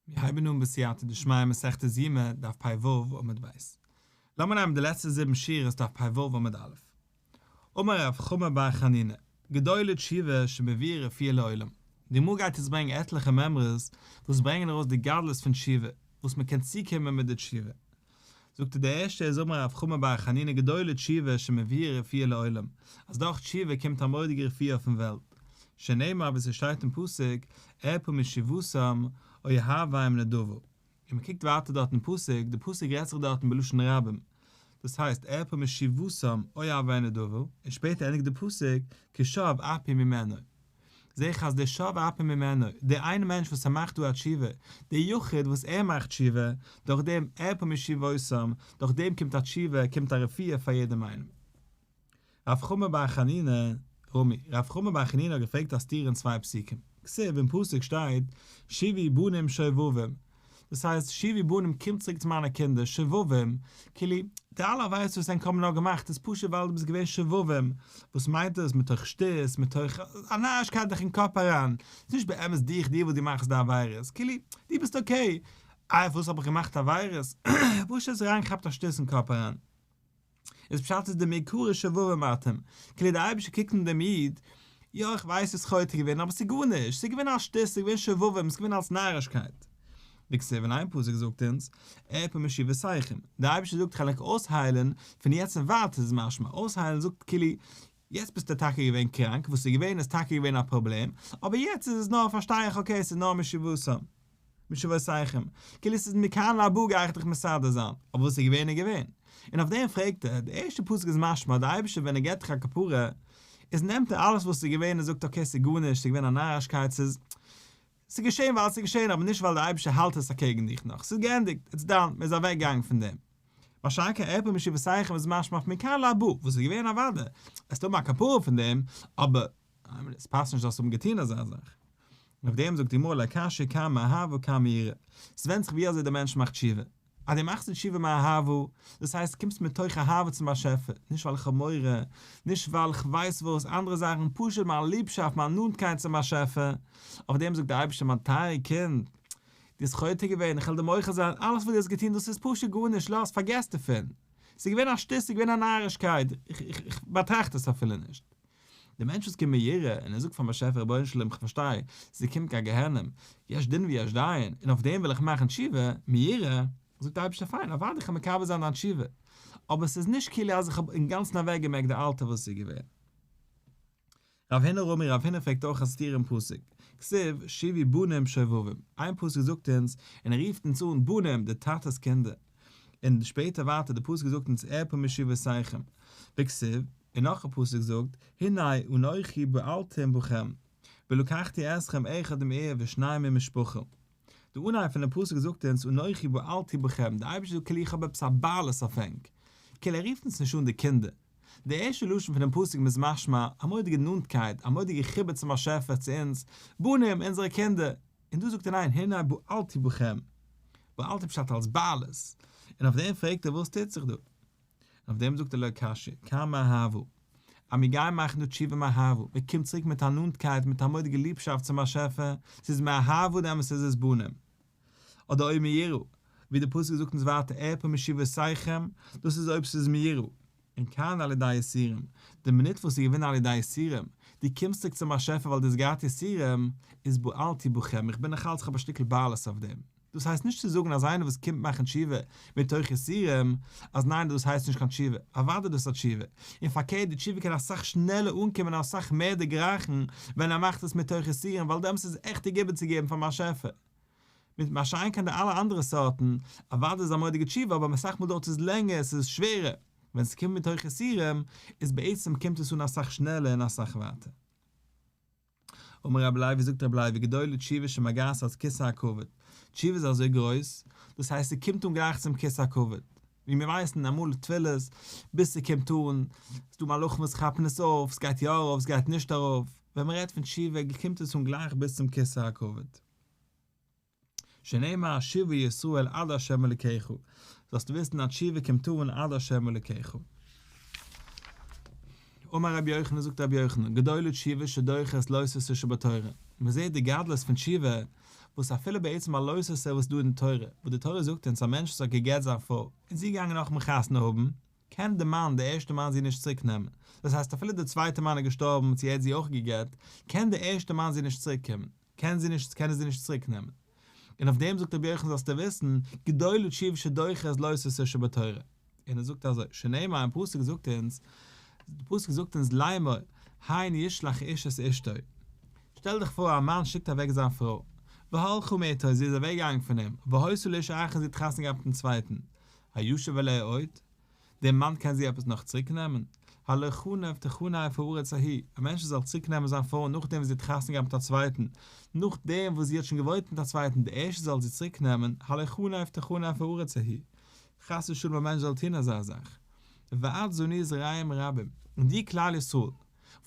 מיר הייבן אן בסייעתא דשמיא מסכת יומא דף פ ו עמוד ב'. לאמיר נעמען די לעצטע זיבן שורות דף פ ו עמוד א'. אמר רב חמא בר חנינא, גדולה תשובה שמביא רפיא לעולם. די גמרא גייט יעצט ברענגען עטליכע מימרות וואס ברענגען ארויס די גדלות פון תשובה, וואס מען קען צוקומען מיט די תשובה. זאגט ער די ערשטע איז אמר רב חמא בר חנינא גדולה תשובה שמביאה רפואה לעולם, אז דורך תשובה קומט א מורא'דיגע רפואה אויפן וועלט, שנאמר ווי ס'שטייט אין פסוק ארפא משבותם אוי האביהם נדבו, און מ'קוקט ווייטער דארט אין פסוק, די פסוק רעדט זיך דארטן בלשון רבים, דאס הייסט ארפא משבותם אוי האביהם נדבו, און שפעטער ענדיגט די פסוק כשוה אפי' ממנו. זעה איך אז דער שב אפי ממנו, דער איין מענטש וואס ער מאכט דא א תשובה, דער יחיד וואס ער מאכט תשובה, דורך דעם ער פה משיבותם, דורך דעם קומט א תשובה, קומט א רפואה פאר יעדעם איינעם. רב חמא בר חנינא, רמי, רב חמא בר חנינא האט געפרעגט א סתירה אין צוויי פסוקים. כסדר אין פסוק שטייט, שבי בנים שובבים. דאס הייסט שיבי בנים קום צוריק צו מיינע קינדער שובבים, כאילו די אלע עבירות וואס ענק האבן נאר געמאכט איז פשוט ווייל דו ביסט געווען שובבים, וואס מיינט דאס מתוך שטות מתוך א נארישקייט דיך אין קאפ אריין, ס'איז נישט באמת דיך דיר וואס דו מאכסט די עבירות, כאילו דו ביסט אקעי, איי פארוואס האב איך געמאכט עבירות? פשוט האסט דיר אריינגעכאפט א שטות אין קאפ אריין. איז פשט איז די מעיקרא שובבי מתים, כאילו די אייבישטער קוקט אין דעם איד, יא איך ווייס וואס חטא איז געווען אבער ס'איז גארנישט, ס'איז געווען א שטות, ס'איז געווען שובבים, ס'איז געווען אלס נארישקייט. די כסדר אין איין פסוק זאגט אונז, ערפו משיבותיכם, די אייבישטער זאגט כ'על ענק אויסהיילן, פון יעצט און ווייטער איז משמע, אויסהיילן זאגט כאילו יעצט ביסטו טאקע געווען קראנק, וואס איז געווען איז טאקע געווען א פראבלעם, אבער יעצט איז עס נאר פארשטיי איך אקעי עס איז נאר משובותם, משובותיכם, כאילו עס איז מכאן להבא גיי איך דיך מסדר זיין, אבער וואס איז געווען איז געווען. און אויף דעם פרעגט ער, די ערשטע פסוק איז משמע אז די אייבערשטער ווען ער געט דיך א כפרה, איז נעמט ער אלעס וואס איז געווען און זאגט אקעי עס איז גארנישט, עס איז געווען א נארישקייט, עס איז ס'איז געשען ווייל ס'איז געשען אבער נישט ווייל דער אייבערשטער האלט עס אקעגן דיך נאך, ס'איז געענדיגט, איטס דאן, מ'איז אוועקגעגאנגען פון דעם. משא כ עפל מיט שבעתייכם איז משמע אויף מכאן להבא, וואס איז געווען אוודאי, וועסטו האבן א כפרה פון דעם, אבער האמת, עס פאסט נישט זאלסט האבן געטון אזא זאך. און אויף דעם זאגט די גמרא על הקשה כמה אהב וכמה ירא, ס'ווענדט זיך ווי אזוי דער מענטש מאכט תשובה. אז דו מאכסט תשובה מאהבה, דאס הייסט קומסט מתוך אהבה צום באשעפער, נישט ווייל איך האב מורא, נישט ווייל כ'ווייס וואס, אנדערע זאכן, פשוט מיין ליבשאפט, מיין נאנטקייט צום באשעפער, אויף דעם זאגט דער אייבערשטער מיין טייערע קינד, דו ביסט חוטא געווען, איך וועל דיר מוחל זיין, אלעס וואס דו האסט געטון, דאס איז פשוט גארנישט, לאז, פארגעס דערפון, ס'איז געווען א שטות, ס'איז געווען א נארישקייט, איך באטראכט עס אפילו נישט, דער מענטש וואס קומט מיט יראה און ער זאגט פארן באשעפער רבונו של עולם איך פארשטיי ס'איז געקומען קיין גיהנום, יש דין ויש דיין, און אויף דעם וויל איך מאכן תשובה, מיראה, זאגט דער אייבערשטער פיין אוודאי איך וועל מקבל זיין דיין תשובה, אבער ס'איז נישט כאילו אז איך האב אינגאנצן אוועקגעמעקט די אלטע וואס איז געווען. רב הינער אומר רב הינער פרעגט אויך א סתירה אין פסוק, כסיב, שיבי בנים שובבים, איין פסוק זאגט אונז, און ער רופט אונז אן בנים, די טאטע'ס קינדער, און שפעטער ווייטער די פסוק זאגט אונז ערפו משבשיכם בכסיל, און נאך א פסוק זאגט הנה אנכי באלתי בכם ולקחתי אתכם אחד עם עיר ושניים עם משפחה, די אנהייב פונעם פסוק זאגט אונז אנכי באלתי בכם, די אייבערשטער זאגט כאילו איך האב עפעס א בעלות אויף ענק, כאילו ער רופט אונז נישט אן די קינדער, די ערשטע לשון פונעם פסוק איז משמע א מורא'דיגע נאנטקייט, א מורא'דיגע חיבור צום באשעפער צו אונז בנים אונזערע קינדער, און דא זאגט ער ניין, הנה בעלתי בכם, בעלתי פשט אלס בעלות, און אויף דעם פרעגט ער וואס טוט זיך דא? און אויף דעם זאגט ער לא קשיא, קאם מיר הבו, אז מיר גייען מאכן דא תשובה מהבו, מען קומט צוריק מיט א נאנטקייט מיט א מורא'דיגע ליבשאפט צום באשעפער, ס'איז מהבו די אמת'ע זיס בנים, אדער אויב מיראו, ווי די פסוק זאגט אונז ווייטער ערפו משיבותיכם, דאס איז אויב ס'איז מיראו. און קיין על ידי יסורים, די מינוט וואס איך געווין על ידי יסורים, דו קומסט צוריק צום באשעפער ווייל דו האסט געהאט יסורים, איז בועלתי בכם, איך בין נאך אלץ איך האב א שטיקל בעלות אויף דעם. דאס הייסט נישט צו זאגן אז איינער וואס קומט מאכן תשובה מתוך יסורים, אז ניין דאס הייסט נישט קיין תשובה, אוודאי דאס איז א תשובה, און פארקערט די תשובה קען אסאך שנעלער אנקומען און אסאך מער דערגרייכן ווען ער מאכט עס מתוך יסורים ווייל דעמאלס איז עס עכט א גיבן צו געבן פארן באשעפער. מיט משא כ די אלע אנדערע סארטן, אוואדי איז א מורא'דיגע תשובה אבער אסאך מאל דויערט עס לענגער, עס איז שווערער, ווען עס קומט מיט הויכע איסורים, איז בעצם קומט עס אן אסאך שנעלער און אסאך ווייטער. אמר רבי לייב ווי זאגט רבי לייב וגדולה תשובה שמגעת עד כסא הכבוד, תשובה איז אזוי גרויס, דאס הייסט עס קומט אן גלייך צום כסא הכבוד, ווי מיר ווייסן אמאל תפילות, ביז עס קומט אן, ס'איז דא מלאכים וואס כאפן עס אויף, עס גייט יא ארויף עס גייט נישט ארויף, ווען מען רעדט פון תשובה קומט עס אן גלייך ביז צום כסא הכבוד. שנאמר השיבו ישראל עד ה' אלקיך, זאלסטו וויסן אז תשובה קומט אן עד ה' אלקיך. אמר רבי יוחנן זאגט רבי יוחנן, גדולה תשובה שדוחת לא עשו ס שבתורה, מען זעט די גדלות פון תשובה, וואס אפילו ביי עצם א לא עשו ס וואס איז דא אין תורה, וואס די תורה זאגט אונז א מענטש וואס האט גע'גט זיין פרוי, און זי איז געגאנגען נאכ'ן חתונה האבן, קען די מאן, די ערשטע מאן זי נישט צוריק נעמען, דאס הייסט אפילו די צווייטע מאן איז געשטארבן צו ער האט זי אויך גע'גט, קען די ערשטע מאן זי נישט צוריק קומען. קען זי נישט קען ער זי נישט צוריק נעמען. און אויף דעם זאגט רבי יוחנן זאלסטו וויסן, גדולו תשיב שדוחת לא סוסו שבתורה. און ער זאגט אזוי, שנאמר אין פסוק זאגט אונז, די פסוק זאגט אונז לאמור, הן ישלח איש את אשתו. שטעל דיך פאר א מאן שיקט אוועק זיין פרוי, והלכה מאיתו זי איז אוועק געגאנגען פון אים, והוסיף לאישה אחרת זי האט חתונה געהאט מיטן צווייטן, הישב עליה עוד? דער מאן קען זי עפעס נאך צוריק נעמען? הלא חנב תחנב הארץ ההיא, א מענטש זאל צוריק נעמען זיין פרוי נאכדעם וואס זי האט חתונה געהאט מיט א צווייטן, נאכדעם וואס זי האט שוין געוואוינט מיט א צווייטן די ערשטע זאל זי צוריק נעמען, הלא חנב תחנב הארץ ההיא, חס ושלום א מענטש זאל טון אזא זאך, ואת זוני זרעים רבים, און דיר כלל ישראל,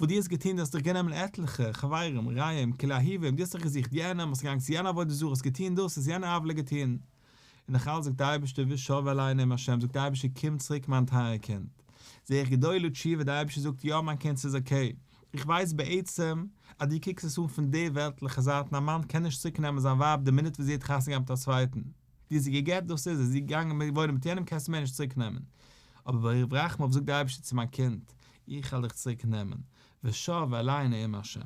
וואס דו האסט געטון דו האסט דיך גענומען עטליכע, חברים, רעים, כלאהיבים, דו האסט דיך געזוכט יענעם, האסט געגאנגען צו יענע עבודה זרה, האסט געטון דאס, האסט יענע עוולה געטון, און איך האלט זאגט די אייבערשטער ושב אלי נעם השם זאגט די אייבערשטער קום צוריק מיין טייער קינד זע איך גדולו תשובה די אייבערשטער זאגט יא מיין קינד ס'איז אקעי איך ווייס בעצם אז דו קוקסט עס אן פון די וועלטליכע זייט און א מאן קען נישט צוריק נעמען זיין ווייב די מינוט וואס זי האט חתונה געהאט מיט א צווייטן דו האסט זי גע'גט דאס איז עס זי איז געגאנגען מיט וואוינען מיט יענעם קענסטו מער נישט צוריק נעמען אבער ברוב רחמיו זאגט די אייבערשטער צו מיין קינד איך העל דיך צוריק נעמען ושב אלי נעם השם.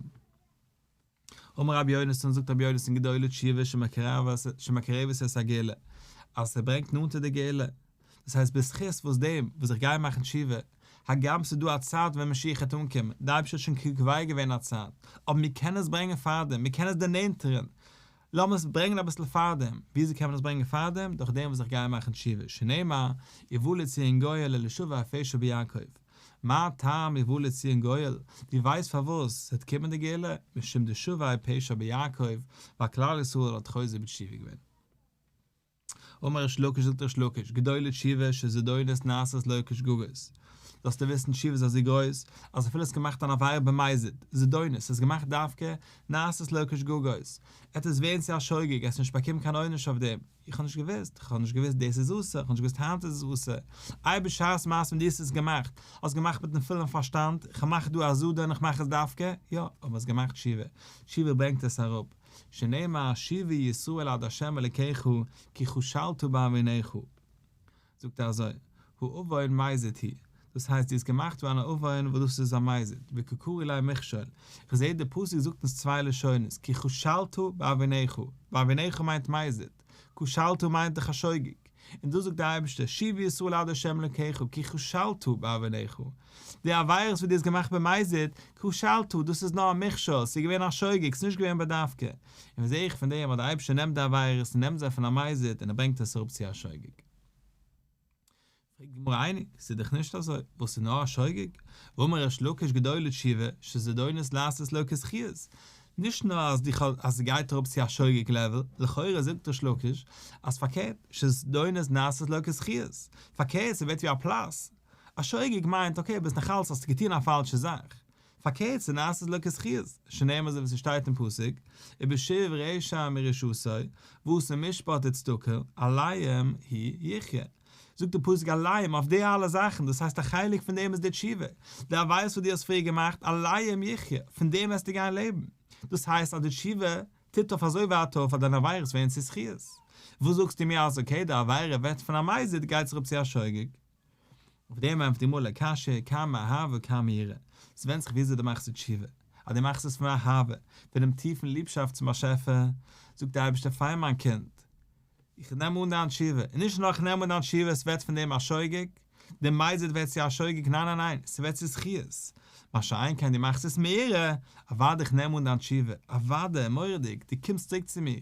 אמר רבי יונתן, זאגט רבי יונתן גדולה תשובה שמקרבת את הגאולה, אז ס'ברענגט נאנטער די גאולה, דאס הייסט בזכות וואס דעם וואס איך גיי מאכן תשובה, הגם ס'איז דא א צייט ווען משיח העט אנקומען, די אייבערשטער האט שוין קובע געווען א צייט, אבער מיר קענען עס ברענגען פארדעם, מיר קענען עס דערנענטערן, לאמיר עס ברענגען אביסל פארדעם, וויאזוי קען מען עס ברענגען פארדעם, דורך דעם וואס איך גיי מאכן תשובה, שנאמר, יבא לציון גואל אל ישוב ואפשו ביעקב. מה טעם יבוא לציון גואל, דו ווייסט פארוואס ס'וועט קומען די גאולה? משום דשובעי פשע ביעקב, ווייל כלל ישראל האט חוזר בתשובה געווען. אמר ריש לקיש זאגט ריש לקיש, גדולה תשובה שזדונות נעשית לא כשגגות, זאלסטו וויסן תשובה איז אזוי גרויס, אז אפילו האסט געמאכט אן עבירה במזיד, זדונות, האסט געמאכט דווקא, נעשית לא כשגגות, עטס ווערן צו א שוגג, עטס נישט באקומען קיין עונש אויף דעם. איך האב נישט געוואוסט, איך האב נישט געוואוסט דאס איז אסור, איך האב נישט געוואוסט היינט איז עס אסור, איי בשעת מעשה ווען דו האסט עס געמאכט, האסט געמאכט מיטן פולן פארשטאנד, איך האב מאך דא א זאדע און איך מאך עס דווקא, יא, אבער האסט געמאכט תשובה, תשובה ברענגט עס אראפ, שנאמר השיבי ישראל עד ה' אלקיך כי כשלת בעווניך. זאגט ער אזוי, האבון מייזיד היא, דאס הייסט דו האסט געמאכט פאר אן האבון וואס דאס איז א מייזיד, וקוקורי ליה מכשול, איך זעה דער פסוק זאגט אונז צוויי לשונות, כי כשלת באבניך, באבניך מיינט מייזיד, כשלת מיינט דיך א שוגג, און דא זאגט דער אייבערשטער, שוב ישראל עד ה' אלקיך, כי כשלת באבניך, די עבירות וואס דו האסט געמאכט במייזיד, כשלת, דאס איז נאר א מכשול, ס'איז געווען א שוגג, ס'איז נישט געווען בדווקא, און וואס זע איך פון דעם אז דער אייבערשטער נעמט די עבירות און נעמט זיי פון א מזיד און ער ברענגט עס אראפ צו א שוגג? פרעגט די גמרא אייניג, ס'איז דאך נישט אזוי, וואס איז נאר א שוגג? אמר ריש לקיש גדול לתשובה, שזדונות לעשות לו כזכיות, נישט נאר אז די אז ס'גייט אראפ צו א שוגג לעוועל, לכאורה זאגט ריש לקיש אז פארקערט, שזדונות נעשות לו כזכיות, פארקערט ס'ווערט ווי א פלאס, א שוגג מיינט אקעי ביזט נאכאלץ האסטו געטון א פאלשע זאך, פארקערט ס'נעשית לו כזכיות, שנאמר אזוי ווי ס'שטייט אין פסוק, ובשב רשע מרשעותו, וואס איז משפט די צדקה, עליהם היא יחיה. זאגט די פסוק עליהם אויף די אלע זאכן, דאס הייסט א חלק פון דעם איז די תשובה, די עבירות וואס דו האסט פריער געמאכט, עליהם יחיה, פון דעם וועסטו גיין לעבן. דאס הייסט אז די תשובה טוט אויף אזוי ווייט אויף אז דיינע עבירות ווערן צו זכיות. וואס זאגסטו מיר אז אקעי די עבירה ווערט פון א מזיד גייט זיך אפ צו א שוגג. אויף דעם ענטפערט די מלא קשיא, כמה אהבה וכמה יראה, ס'ווענדט זיך וויאזוי דו מאכסט די תשובה, אז דו מאכסט עס פון אהבה, פונעם טיפן ליבשאפט צום באשעפער, זאגט דער אייבערשטער פיין מיין קינד, איך נעם אן דיין תשובה, און נישט נאר איך נעם אן דיין תשובה, ס'ווערט פון דעם א שוגג, די מייזעט ווערט צו א שוגג, ניין ניין ניין, ס'ווערט צו זכיות, מה שאין כן דו מאכסט עס מיראה, אוודאי איך נעם אן דיין תשובה, אוודאי, מורא'דיג, דו קומסט צוריק צו מיר,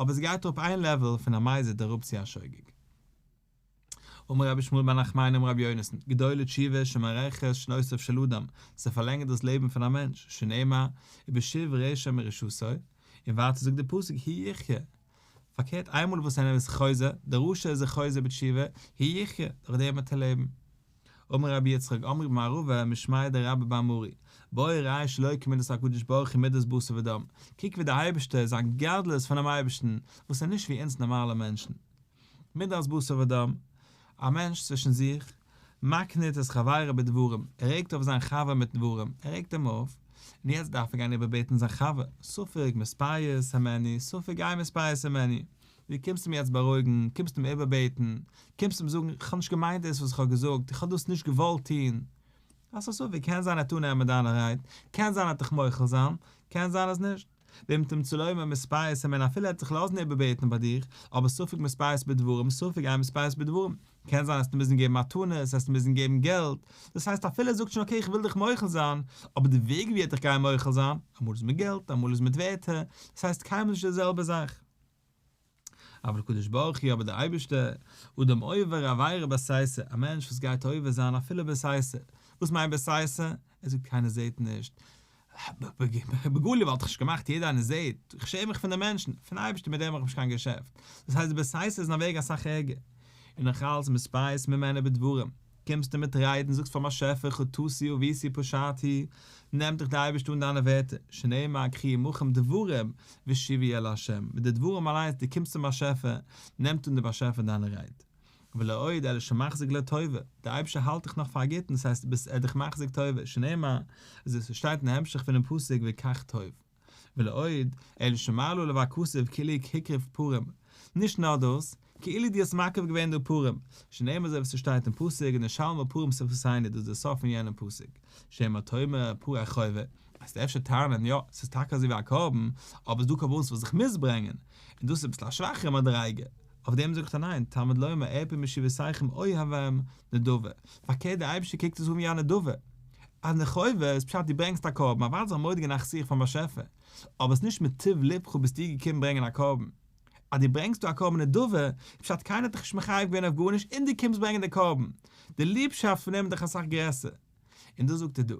אבער ס'גייט אראפ איין לעוועל פון א מייזעט אראפ צו א שוגג. אמר רבי שמואל בן נחמני אמר רבי יונתן, גדולה תשובה שמארכת שנותיו של אדם, זי פארלענגערט דאס לעבן פון א מענטש, שנאמר, ובשוב רשע מרשעותו, און ווייטער זאגט דער פסוק, ה' יחיה, פארקערט איינמאל וואס איינער איז חוזר, דער רשע איז זיך חוזר בתשובה, ה' יחיה, דורך דעם וועט ער לעבן. אמר רבי יצחק, אמרי במערבא משמעיה דרבי באמרי, בואי ראי' שלא כמידת הקדוש ברוך הוא מידת בשר ודם, קוק ווי דער אייבערשטער, זיין גדלות פונעם אייבערשטן, וואס איז נישט ווי אונז נארמאלע מענטשן. מידת בשר ודם, א מענטש צווישן זיך, מקנית את חברו בדברים, ער רעגט אויף זיין חבר מיט דברים, ער רעגט אים אויף, און יעצט דארף ער גיין איבערבעטן זיין חבר, ספק מספייס העמני, ספק גיא מספייס העמני, דו קומסט אים יעצט בארואיגן, קומסט אים איבערבעטן, קומסט אים זאגן, איך האב נישט געמיינט דאס וואס איך האב געזאגט, איך האב דאס נישט געוואלט טון, האסט א ספק, קען זיין ער האט אנערמענט דיינע רייד, קען זיין ער האט דיך מוחל זיין, קען זיין אז נישט. ואם תמצא לו עם המספרית כ'מיין אפילו ער וועט זיך לאזן איבערבעטן ביי דיר, אבער ספק מספרית בדברים, ספק אין מספרית בדברים, קען זיין עסטו מוזן געבן מתנות, עסטו מוזן געבן געלט, דאס הייסט אפילו ער זאגט שוין אקעי כ'וויל דיך מוחל זיין, אבער די וועג ווי ער האט דיך גייען מוחל זיין, אמאל איז מיט געלט, אמאל איז מיט ווערטער, דאס הייסט קיינמאל נישט די זעלבע זאך. אבער הקדוש ברוך הוא אבער דער אייבערשטער, אדם עובר עבירה בעשייסע, א מענטש וואס גייט עובר זיין אפילו בעשייסע, וואס מיינט בעשייסע? ער זאגט קיינער זעט נישט, בגלוי וואלט איך נישט געמאכט יעדער איינער זעט, איך שעם מיך פון די מענטשן, פון אייבערשטער מיט דעם האב איך נישט קיין געשעפט, דאס הייסט בעשייסע איז אין א וועג אסאך ערגער, און נאכאלץ מספייס ממנה בדברים, קומסטו מיט ריידן, זאגסט פאר'ן באשעפער חטאתי עוויתי פשעתי, נעמט דיך דער אייבערשטער אן דיינע ווערטער, שנאמר קרי עמכם דברים והשיבי אל ה', מיט די דברים אליינס, דו קומסט צום באשעפער, נעמט אן דער באשעפער דיינע רייד. ולא עוד אלא שמחזיק לטובה, דער אייבערשטער האלט דיך נאך פאר א גוטן, דאס הייסט, ער איז דיך מחזיק טובה, שנאמר, אזוי ווי ס'שטייט אין המשך פונעם פסוק, וכך טוב. ולעוד, אלא שמר לו לוה כסף כאילו כקרב פורים, נישט נאר דאס, כאילו דו האסט מקריב געווען דא פורים, שנאמר אזוי ווי ס'שטייט אין פסוק ונשלמה פורים ספרסייני דאס איז דער סוף פון יענעם פסוק, שמא תאמר פור א חובה, וועסטו אפשר טענה'ן יא, ס'איז טאקע אזוי ווי א קרבן, אבער ס'איז דא קרבנות וואס איך מוז ברענגען, און דאס איז אביסל א שוואכערע מדריגה, אויף דעם זאגט ער ניין, תמיד לומר אעפ משיבותיכם אוהבם נדבה, פארקערט דער אייבישטער קוקט עס אן ווי א נדבה, אז נדבה איז פשט דו ברענגסט א קרבן, אוודאי זיך מודה גענאכט זיך פארן באשעפער, אבער עס איז נישט מטוב לבך ביסט דו געקומען ברענגען א קרבן, אז דו ברענגסט דא א קרבן נדבה, איז פשט קיינער האט דיך נישט מחייב געווען אויף גארנישט און דו קומסט ברענגען די קרבן, די ליבשאפט פון אים איז דאך אסאך גרעסער. און דאס זאגט ער דא,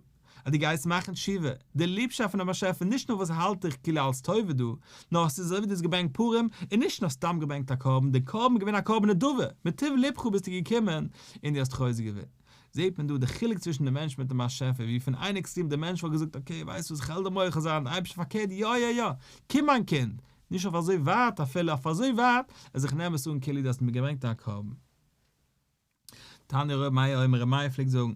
אז דו גייסט מאכן תשובה, די ליבשאפט פונעם באשעפער, נישט נאר וואס האלט דיך כאילו אלס טובה דא, נאר עס איז אזוי ווי דו האסט געברענגט פורים, און נישט נאר סתם געברענגט א קרבן, די קרבן איז געווען א קרבן נדבה, מטוב לבך ביסטו געקומען און דו האסט חוזק געווען. זעט מען דא די חילוק צווישן די מענטש מיטן באשעפער, ווי פון איין עקסטרים די מענטש וואלט געזאגט אקעי ווייסט וואס כ'על דיר מוחל זיין, די אייבערשטער פארקערט יא יא יא, קום מיין קינד, נישט אויף אזוי ווייט אפילו, אויף אזוי ווייט אז איך נעם עס אן כאילו דו האסט מיר געברענגט א קרבן. תנא ר' מאיר אומר ר' מאיר פלעגט זאגן,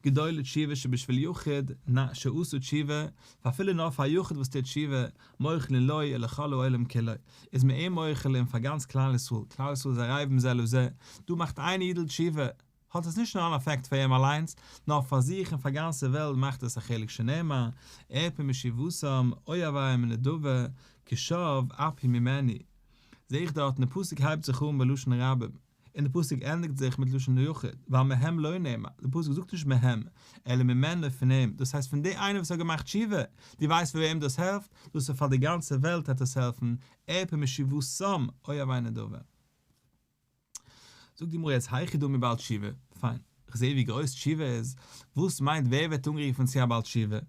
גדולה תשובה שבשביל יחיד, נ, שעשו תשובה, ואפילו נאר פאר א יחיד וואס טוט תשובה, מוחלין לו אלא כל העולם כולו, איז מען אים מוחל און פאר גאנץ כלל ישראל, כלל ישראל איז ערבים זה לזה, דא מאכט איין אידל תשובה, האט עס נישט נאר אן אפעקט פאר אים אליינס, נאר פאר זיך און פאר גאנצע וועלט מאכט עס א חלק שנאמר, ארפה מישיבתם, אוהביה מנדבה, כשוב ארפי ממני. זעה איך דארטן די פסוק הייבט זיך אן בלשון רבים. און די פסוק ענדיגט זיך מיט לשון היחיד, ווייל מהם לא נאמר, די פסוק זאגט נישט מהם, אלא ממנו פון אים, דאס הייסט פון די איינער וואס האט געמאכט תשובה, דו ווייסט וועם דאס העלפט? דאס איז פאר די גאנצע וועלט העט עס העלפן, עפ י משיבתם, אוי א וויינער דא ווען. זאגט די גמרא יעצט היכי דמי בעל תשובה, פיין, כ'זעה ווי גרויס תשובה איז, וואס מיינט ווער ווערט אנגערופן צו א בעל תשובה?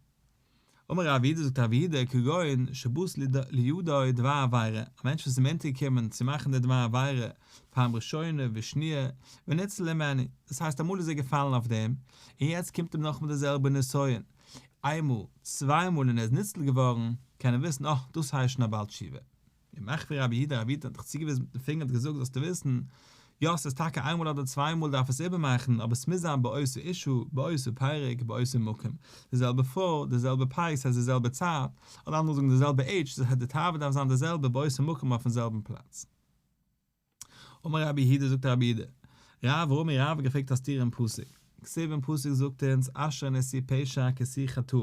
אמר רב יהודה זאגט רב יהודה כגון שבוז לידו דבר עבירה, א מענטש וואס איז אים אונטערגעקומען צו מאכן די דבר עבירה פעם ראשונה ושניה וניצל הימני, דאס הייסט אמאל איז ער געפאלן אויף דעם און יעצט קומט אים נאכאמאל די זעלבע נסיון איינמאל צוויי מאל און ער איז ניצל געווארן, קען ער וויסן אה דאס הייסט שוין א בעל תשובה. און נאך ווי רבי איד רבי'טע האט דיך צוגעוויזן מיטן פינגער און האט געזאגט זאלסטו וויסן, יא ס'איז טאקע איינמאל אדער צוויי מאל דארף עס איבערמאכן אבער ס'מוז זיין באותו אישו, באותו פרק, באותו מקום, די זעלבע פרוי, די זעלבע פרייז ס'הייסט די זעלבע צייט, אדער אנדערע זאגן די זעלבע עידזש, דאס הייסט די תאווה דארף זיין די זעלבע באותו מקום אויפן זעלבן פלאץ. אמר רבי הידא זאגט רבי הידא רב ווארום רב האט געפרעגט א סתירה אין פסוק כסדר אין פסוק זאגט אונז אשר נשיא פשע כסיא חטא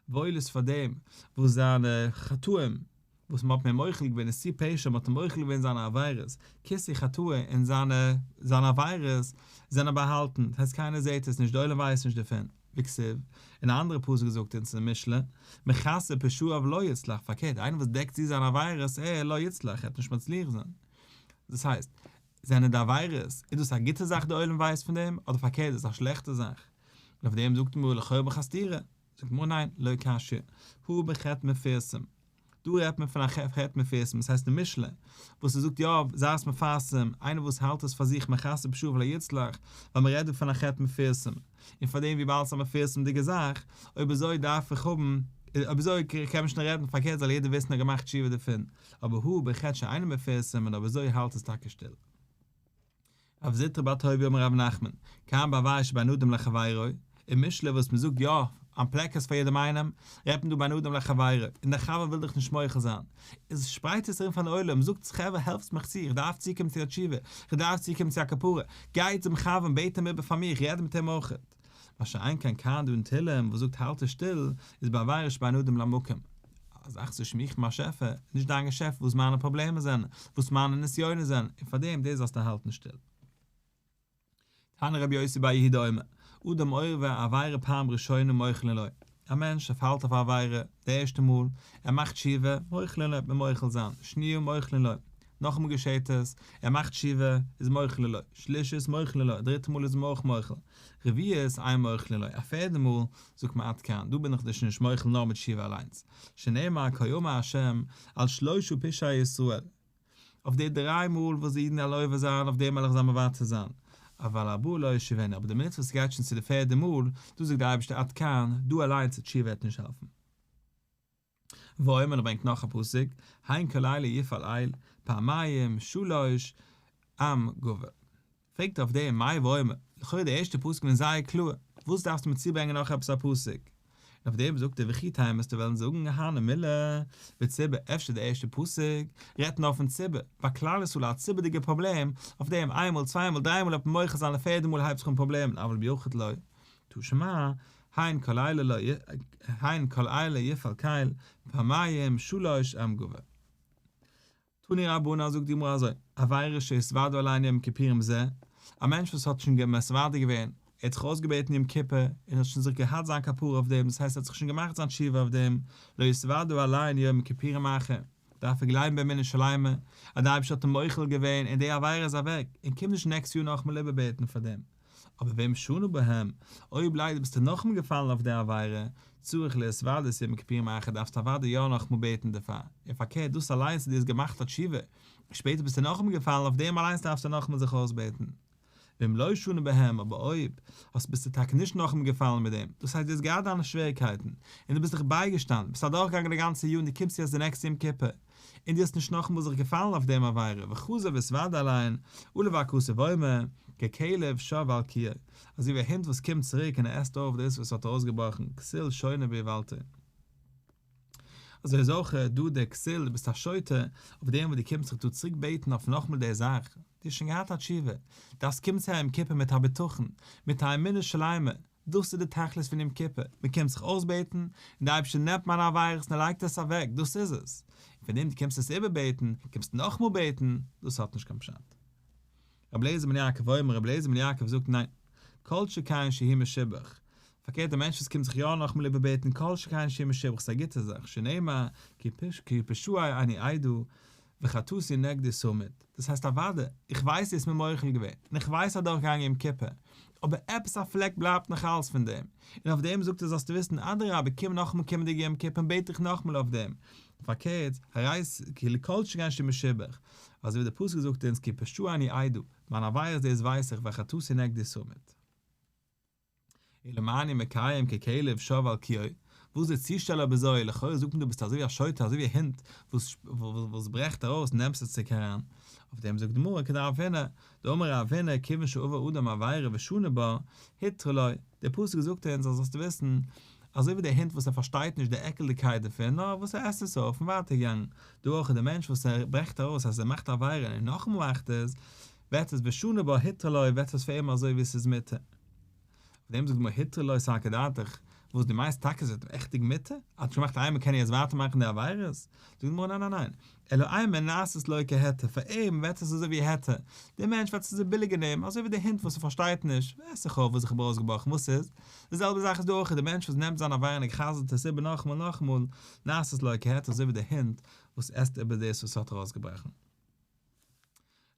וואויל איז פאר דעם וואס זיינע חטאים וואס מען האט אים מוחל געווען נשיא פשע מען האט אים מוחל געווען זיינע עבירות כסיא חטאו און זיינע עבירות זענען באהאלטן דאס הייסט קיינער זעהט עס נישט די עולם ווייסט נישט דערפון. וכסף, אין א אנדערע פסוק זאגט אונז אין משלי, מכסה פשעיו לא יצלח, פארקערט, איינער וואס דעקט צו זיינע עבירות עה לא יצלח, ער וועט נישט מצליח זיין. דאס הייסט, זענען די עבירות, איז דאס א גוטע זאך די עולם ווייסט פון דעם, אדער פארקערט איז א שלעכטע זאך? און אויף דעם זאגט מרא לכאורה בחסדירא, זאגט מרא ניין, לא קשיא, הוא בחטא מפרסום, דא רעדט מען פון א ח ח מפרסם וואס הייסט די משלי וואס ער זאגט יא זייערס מפרסם איינער וואס האלט עס פאר זיך מחסב שוב ולא יצלח ווייל מען רעדט דא פון א ח ח מפרסם און פארדעם וויבאלד ס'איז א מפרסמ'דיגע זאך אויב אזוי דארף איך האבן אויב אזוי קען מען שוין רעדן פארקערט זאל יעדער וויסן ער האט געמאכט תשובה דערפון אבער הוא בכ ש אינו מפרסם און אויב אזוי האלט עס טאקע שטיל. אויף זוטרא בר טוביה אמר רבי נחמן, כאן באווייז שבין אדם לחבירו, אין משלי וואס מען זאגט יא איין פלעק עס פאר יעדעם איינעם, רעדט מען דא בין אדם לחבירו, און דער חבר וויל דיך נישט מוחל זיין, איז שפרייט עס ארום פארן עולם, זאגטס חבר העלפטס מיך צו, איך דארף צוקומען צו א תשובה, איך דארף צוקומען צו א כפרה, גיי צום חבר און בעט אים איבער פאר מיר, איך רעד מיט אים אויך. מה שאין כן קאנדא און תהלים וואס זאגט האלט דיך שטיל איז בעבירות בין אדם למקום, א זאך צו שמועכן מיין שעפע, נישט דיין געשעפט וואס מיינע פראבלעמען זענען, וואס מיינע נסיונות זענען, און פאר דעם דאס זאלסטו האלטן שטיל. תנא רבי יוסי ביי יהודה אומר, אדם עובר עבירה פעם ראשונה מוחלין לו, א מענטש ער פאלט אויף א עבירה די ערשטע מאל, ער מאכט תשובה, מוחלין לו, מ'עט מוחל זיין, שניה, מוחלין לו, נאכאמאל געשעהט עס, ער מאכט תשובה, איז מוחלין לו, שלישית, מוחלין לו, דריטע מאל איז מען אויך מוחל, רביעית, איי מוחלין לו, א פערדע מאל, זאגט מען עד כאן, דא בין איך דיך נישט מוחל נאר מיט תשובה אליינס, שנאמר כה יאמר ה', על שלשה פשעי ישראל, אויף די דריי מאל וואס די אידן עלובה זיין אויף די מלך זיי מוותר זיין, אבל הבא לא ישיבנו, אבער די מינוט וואס עס גייט שוין צו די פערדע מאל, דא זאגט די אייבערשטער עד כאן, דא אליינס די תשובה וועט נישט העלפן. ואומר ער ברענגט נאך א פסוק, הן כלילה יפעל איל, פעמיים, שלש, עם גובר. פרעגט ער אויף דעם, מאי ואומר, לכאורה די ערשטע פסוקים זענען זייער קלאר, וואס דארפסטו מיר צוברענגען נאך עפעס א פסוק? און אויף דעם זאגט ער, וכי טעם עסטו וועלן זאגן אהנע מילא, בציבור, אפשר די ערשטע פסוק רעדט נאר פון ציבור, ביי כלל ישראל א ציבור'דיגע פראבלעם, אויף דעם איין מאל צוויי מאל דריי מאל האט מען מוחה זיין די פערדע מאל הייבט זיך אן פראבלעמען אבל ביחיד לא, תשע מא, הן כל אלה לא הן כל אלה יפעל כעל, פעמיים שלש אמ גו'. תני רבנן זאגט די גמרא אזוי, עבירה שהסוודו עליה יום כיפורים ז, א מענטש וואס האט שוין מסוודה געווען, ער האט זיך אויסגעבעטן יום כיפור, און האט שוין זיך געהאט זיין כפרה אויף דעם, דאס הייסט ער האט זיך שוין געמאכט זיין תשובה אויף דעם, לא יסוודו עליה יום כיפורים אחר, דארף ער גלייבן באמונה שלימה, אז די אייבערשטער האט אים מוחל געווען און די עבירה איז אוועק, און קומט נישט נעקסט יאר נאכאמאל איבערבעטן פאר דעם. אבער ואם שנו בהם, אויב ליידער ביסטו נאכאמאל געפאלן אויף די עבירה, צריך להתוודות איר מכפירים אייך, דארפסטו אוודאי יא נאכאמאל בעטן דערפאר, און פארקערט דאס אליינס אז דו האסט געמאכט א תשובה, און שפעטער ביסטו נאכאמאל געפאלן אויף דעם אליינס דארפסטו נאכאמאל זיך אויסבעטן. ואם לא שנו בהם, אבער אויב האסט ביסטו טאקע נישט נאכאמאל געפאלן מיט דעם, דאס הייסט דו האסט געהאט דיינע שוועריקייטן, און דו ביסט דיך בייגעשטאנען, ביסט אדורכגעגאנגען די גאנצע יאר און דו קומסט יעצט די נעקסטע יום כיפור, און דו האסט נישט נאכאמאל זיך געפאלן אויף דעם עבירה, וחזר וסוואד אליין, עלה והכסה ואומר, ככלב שב אל קיאו, אזוי ווי א הונט וואס קומט צוריק און ער עסט אויף דאס וואס האט ארויסגעבראכן, כסיל שונה באיוולתו. אזוי איז אויך דא דער כסיל, דו ביסט א שוטה, אויף דעם וואס דו קומסט זיך דא צוריק בעטן אויף נאכאמאל די זאך, דו האסט שוין געהאט א תשובה, דארפסט קומען צו א יום כיפור מיט א בטחון, מיט א אמונה שלימה, דאס איז די תכלית פון יום כיפור, מען קומט זיך אויסבעטן, און די אייבערשטער נעמט מיינע עבירות און ער לייגט עס אוועק, דאס איז עס, און פאר דעם דו קומסט עס איבערבעטן, קומסט נאכאמאל בעטן, דאס האט נישט קיין פשט. רבי אליעזר בן יעקב אומר, רבי אליעזר בן יעקב זאגט ניין, כל שכן שהיא משובח, פארקערט א מענטש וואס קומט זיך יא נאכאמאל איבערבעטן כל שכן שהיא משובח, ס'איז א גוטע זאך, שנאמר, כי פשעי אני אדע, וחטאתי נגדי סומית, דאס הייסט אוואדע, איך ווייס דאס מיר מוחל געווען, און איך ווייס אדורך געגאנגען יום כיפור, אבער עפעס א פלעק בלייבט נאך אלס פון דעם, און אויף דעם זאגט ער זאלסטו וויסן אדרבה קום נאכאמאל קומענדיגע יום כיפור און בעט דיך נאכאמאל אויף דעם, פארקערט, הרייס כאילו כל שכן שמשובח, אזוי ווי דער פסוק זאגט אונז כי פשעי אני אדע, מיין עבירות דאס ווייס איך וחטאתי נגדי סומית. אלא מאי אני מקיים ככלב שב על קיאו, וואס די צושטעל האב אזוי, לכאורה זאגט מען דא ביסט אזוי ווי א שוטה אזוי ווי א הונט וואס ברעכט ארויס נעמסט די ציג אריין, אויף דעם זאגט די גמרא כדרב הונא, דאמר רב הונא כיוון שעבר אדם עבירה ושנה בה, היתר לו, דער פסוק זאגט אונז אז זאלסטו וויסן, אזוי ווי דער הונט וואס ער פארשטייט נישט די עקלדיגקייט דערפון נאר וואס ער עסט עס אויף און ווייטער געגאנגען, דא אויך איז דער מענטש וואס ער ברעכט ארויס אז ער מאכט א עבירה און נאכאמאל מאכט עס, וועט עס בשנה בא היתר לו וועט עס פאר אים אזוי ווי עס איז מותר. אויף דעם זאגט די גמרא היתר לו סא כדעתך, וואס דו מיינסט טאקע עס וועט אים עכטיג מותר, אז ער געמאכט איינמאל קען ער יעצט ווייטער מאכן די עבירות? זאגט די גמרא ניין ניין ניין, אלא אי מ נעשית לו כהיתר, פאר אים וועט עס אזוי ווי היתר, די מענטש וועט עס אזוי ביליגער נעמען, אזוי ווי די הונט וואס ער פארשטייט נישט, ווער ס'חור וואס איך האב ארויסגעבראכן וואס ס'איז, די זעלבע זאך איז דא אויך, די מענטש וואס נעמט זיין עבירה און ער חזר'ט עס איבער נאכאמאל נאכאמאל, נעשית לו כהיתר אזוי ווי די הונט וואס עסט איבער דאס וואס ער האט ארויסגעבראכן.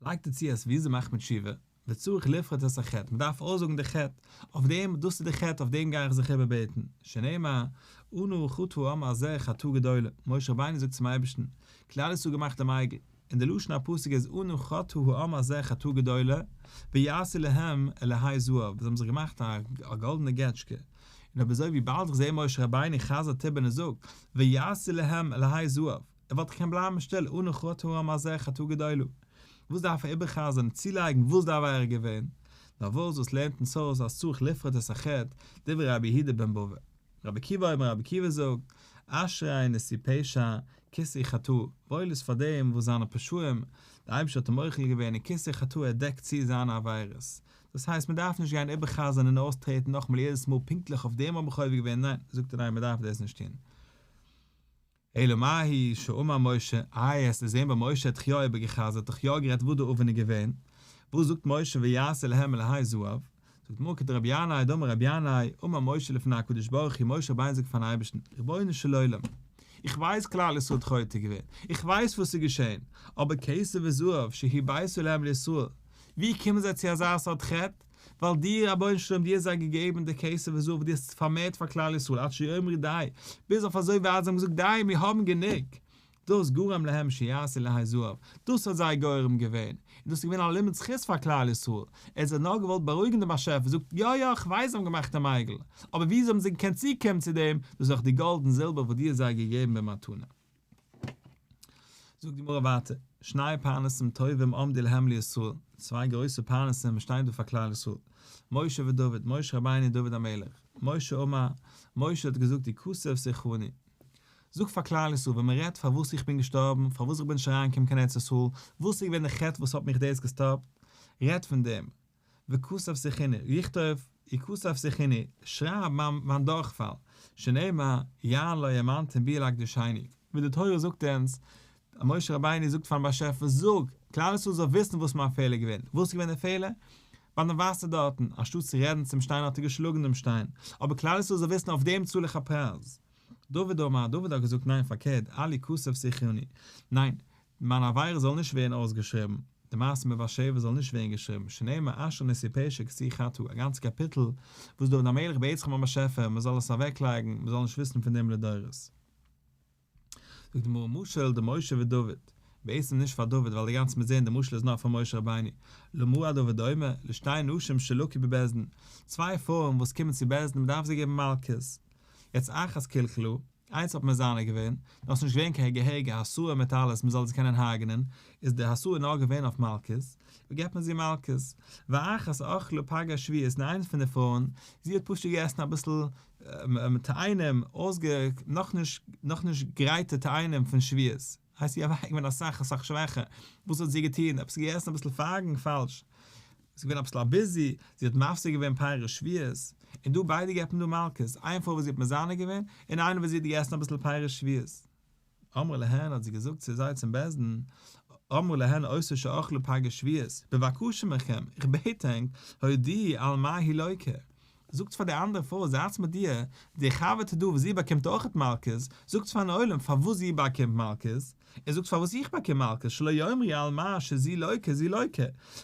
לייגט ער צו אז וויאזוי מאכט מען תשובה, וצריך לפרט את החטא, מ'דארף אויסזאגן די חטא, אויף דעם, דאס איז די חטא, אויף דעם גיי איך זיך איבערבעטן, שנאמר, אנו חטאו אמר על זה חטאה גדולה, משה רבינו זאגט צום אייבערשטן, כלל ישראל האט געמאכט דעם עגל, און די לשון הפסוק איז אנו חטאו אמר על זה חטאה גדולה, ויעשה להם אלהי זהב, זיי האבן זיך געמאכט א גאלדענע געטשקע, און אבער זוי וויבאלד איך זע משה רבינו חזר'ט איבער און ער זאגט, ויעשה להם אלהי זהב, ער וואלט דאך קענען בלייבן שטיל, אנא חטא העם הזה חטא גדולה, וואס דארף ער איבער'חזר'ן, צולייגן וואס די עבירה איז געווען? נארוואס, וואס לערנט אונז אויס אז צריך לפרט את החטא, דברי רבי יהודה בן בבא? רבי עקיבא אויבן רבי עקיבא זאגט, אשרי נשיא פשע, כסא חטאו, וואויל איז פאר דעם וואס זיינע פשעים, די אייבערשטער האט אים מוחל געווען און כסא חטאו ער דעקט צו זיינע עבירות, דאס הייסט מען דארף נישט גיין איבער'חזר'ן און אויסטרעטן נאכאמאל יעדעס מאל פונקטליך אויף דעם האב איך עובר געווען, ניין, זאגט ער ניין מען דארף דאס נישט טון. אלא מאי שאמר משה, איי האסט דערזען ביי משה האט תחי' איבער גע'חזר'ט תחי' האט גערעדט וואס די אופן איז געווען, וואס זאגט משה ויעשה להם מלאהי זהב, זאגט מרקד רבי ינאי דאמר רבי ינאי אמר משה לפני הקדוש ברוך הוא משה רבינו זאגט פארן אייבערשטן רבונו של עולם איך ווייס כלל ישראל האט חוטא געווען איך ווייס וואס איז געשען אבער כסף וזהב שהי' בייסו להם לישראל ווי קומען זיי צו אזא סארט חטא? ווייל דיר רבונו של עולם דו האסט זיי געגעבן די כסף וזהב וואס דו האסט פארמערט פאר כלל ישראל עד שיאמרו די, ביז אויף אזוי ווייט זיי האבן געזאגט די מיר האבן גענוג, דאס גרם להם שיעשו לה' זהב, דאס האט זיי גורם געווען, און דאס איז געווען א לימוד זכות פאר כלל ישראל, ער האט זיי נאר געוואלט בארואיגן די באשעפער זאגט יא יא איך ווייס זיי האבן געמאכט א מייגל, אבער ווי אזוי האבן זיי געקענט צוקומען צו דעם, דאס איז דאך די גאלד און זילבער וואס דו האסט זיי געגעבן במתנה. זאגט די גמרא ווייטער, שני פרנסים טובים עומדים להם לישראל, צוויי גרויסע פרנסים שטייען דא פאר כלל ישראל, משה ודוד, משה רבינו און דוד המלך, משה אמר, משה האט געזאגט די כסף שיחוני, זאג פאר כלל ישראל ווען מען רעדט פארוואס איך בין געשטארבן, פארוואס איך בין נישט אריינגעקומען קיין ארץ ישראל, וואס איז געווען די חטא וואס האט מיך דאס געסטאפט, רעד פון דעם, וכסף שיחיני, ריכט אויף, איר כסף שיחיני, שרייב מיין דורכפאל, שנאמר, יען לא יאמנתם בי אלא קדשייני. ווי די תורה זאגט אונז, משה רבינו זאגט פארן באשעפער, זאג, כלל ישראל זאל וויסן וואס מיין פעלער איז געווען. וואס איז געווען די פעלער? ביי דעם וואסער דארטן, אנשטאט צו רעדן צום שטיין האט ער געשלאגן דעם שטיין. אבער כלל ישראל זאל וויסן אויף דעם צאל איך א פרייז. דוד אמר, דוד האט געזאגט, ניין, פארקערט, אלי כסף שיחיני, ניין, מיין עבירה זאל נישט ווערן אויסגעשריבן, די מעשה מיט בת שבע זאל נישט ווערן געשריבן, שנאמר אשר נשיא פשע כסי חטא, א גאנצע קאפיטל וואס דוד המלך בעט זיך ביים באשעפער מען זאל עס אוועק לייגן, מען זאל נישט וויסן פון דעם לדורות. זאגט די גמרא משל די משה ודוד, בעצם נישט פאר דוד ווייל די גאנצע מוז זעהן די משל איז נאר פאר משה רבינו, למאור הדבר דומה, לשתי נשים שלקו בבית דין, צוויי פרויען וואס קומען צו בית דין מען דארף זיי געבן מלקות, יצא אחת קלקלו, איינס האט מזנה געווען, דאן איז נישט געווען קיין געהעריגע האסואה מיט אלעס מען זאל דאס קענען הרג'נען, איז די האסואה נאר געווען אויף מלקות, ווי געט מען זי מלקות? ואחת אכלה פגע שביעית און איינס פון די פרויען, זי האט פשוט געגעסן אביסל תאנים, אויסגע נאכנישט נאכנישט גרייטע תאנים פון שביעית. הייסט זי אוועק געווען אסאך אסאך שוועכער, וואס האט זי געטון? עפעס געגעסן אביסל פארגן פאלש, זי געווען אביסל א ביזי, זי האט מפסיק געווען פאר איר שביעות, און דא ביידע געפן דא מלקות, איין פאר וואס זי האט מזנה געווען, און איינער וואס זי האט געגעסן אביסל פאר איר שביעות. אמרו להן האט זי געזאגט צו זיי צום בית דין, אמרו להן עושה שאכלו פגע שביעות, בבקשה מכם, איך בעט ענק, הודיעי על מה היא לוקה, זאגטס פאר די אנדערע פרוי זייטס מיט איר, די חבר טוט דא וואס זי באקומט אויכעט מלקות, זאגטס פארן עולם פארוואס זי באקומט מלקות, און זאגטס פארוואס איך באקום מלקות, שלא יאמרי על מה שזי לוקה זי לוקה,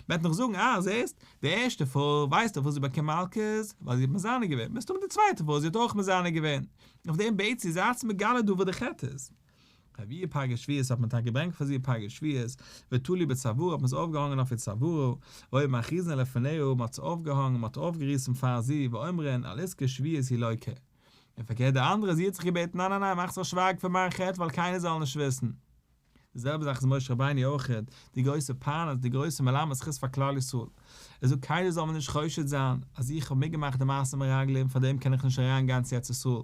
מ'עט נאך זאגן אה זעסט, די ערשטע פרוי ווייסט דאך פארוואס זי באקומט מלקות, ווייל זי האט מזנה געווען, מסתמא די צווייטע פרוי זי האט אויך מזנה געווען, אויף דעם בעטס איר זייטס מגלה דא וואס די חטא איז. רביעי פגע שביעית האט מען טאקע געברענגט פאר זיע פגע שביעית, ותלוי בצווארו האט מען עס אויפגעהאנגען אויף איר צווארו, והיו מכריזין לפניה מען האט עס אויפגעהאנגען מען האט אויפגעריסן פאר זי ואומרין על איזקי שביעית היא לויקה. און פארקערט די אנדערע זי האט זיך געבעטן ניין ניין ניין מאך זיך שווייג פון מיין חטא ווייל קיינער זאל נישט וויסן. די זעלבע זאך איז משה רבינו אויך, די גרויסע פרנס די גרויסע מלמד זכות פאר כלל ישראל, ער זאגט קיינער זאל מיר נישט חושד זיין אז איך האב מיטגעמאכט די מעשה מרגלים פאר דעם קען איך נישט אריין גיין צו ארץ ישראל,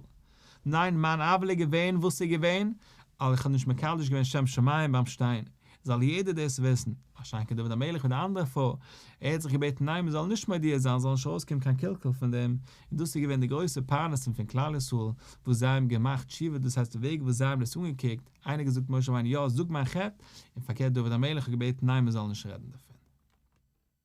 ניין מיין אבל איז געווען וואס איז געווען ווייל איך האב נישט מקדש געווען שם שמים ביים שטיין, זאל יעדער דאס וויסן, א שיין כדוד דוד המלך מיט די אנדערע פרוי, ער האט זיך געבעטן ניין מען זאל נישט מודיע זיין זאל נישט ארויס קומען קיין קלקול פון דעם, און דאס איז געווען די גרויסע פרנסה פון כלל ישראל וואס זיי האבן געמאכט תשובה דאס הייסט די וועג וואס זיי האבן דאס אנגעקוקט, איינער געזאגט משה רבינו יא זאג מיין חטא, און פארקערט דוד המלך האט געבעטן ניין מען זאל נישט רעדן דערפון.